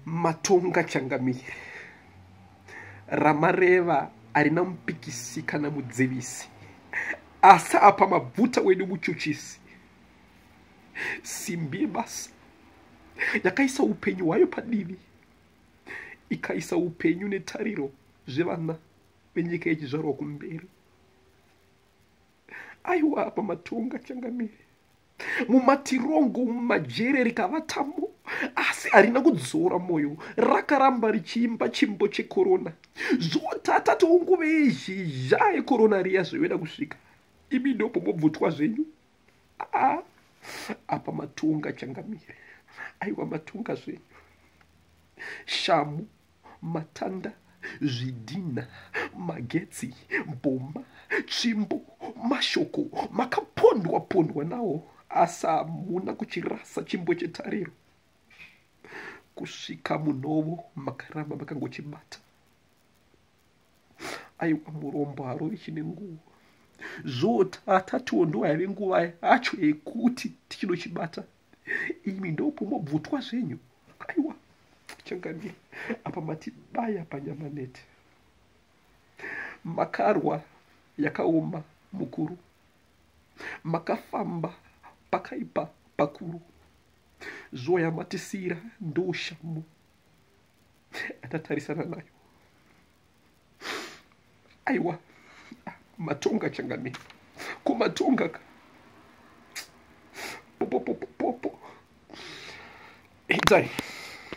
matonga changamire ramareva harina mupikisi kana mudzivisi asi apa mabvuta wedu muchuchisi simbi yebasa yakaisa upenyu hwayo padivi ikaisa upenyu netariro zvevana venyika yechizvarwa kumberi aiwa apa matonga changamire mumatirongo mumajere rikavatamo asi harina kudzora mwoyo rakaramba richiimba chimbo chekorona zvotata tounguve yezhizha yekorona riya zveveda kusvika imi ndopo mobvutwa zvenyu aa ah, apa matonga changamire aiwa matonga zvenyu shamu matanda zvidhinha magetsi bhoma tsvimbo mashoko makapondwa pondwa nawo asi hamuna kuchirasa chimbo chetariro kusvika munhovo makaramba makangochibata aiwa murombo harovi chine nguva zvota atatiwo ndo yave nguva yacho yekuti tichinochibata imi ndopo mobvutwa zvenyu aiwa changamire apa matibaya panyama neti makarwa yakaoma mukuru makafamba pakaipa pakuru zuva yamatisiira ndoushamu atatarisana nayo aiwa matonga changamire ko matonga ka popopopopo edzai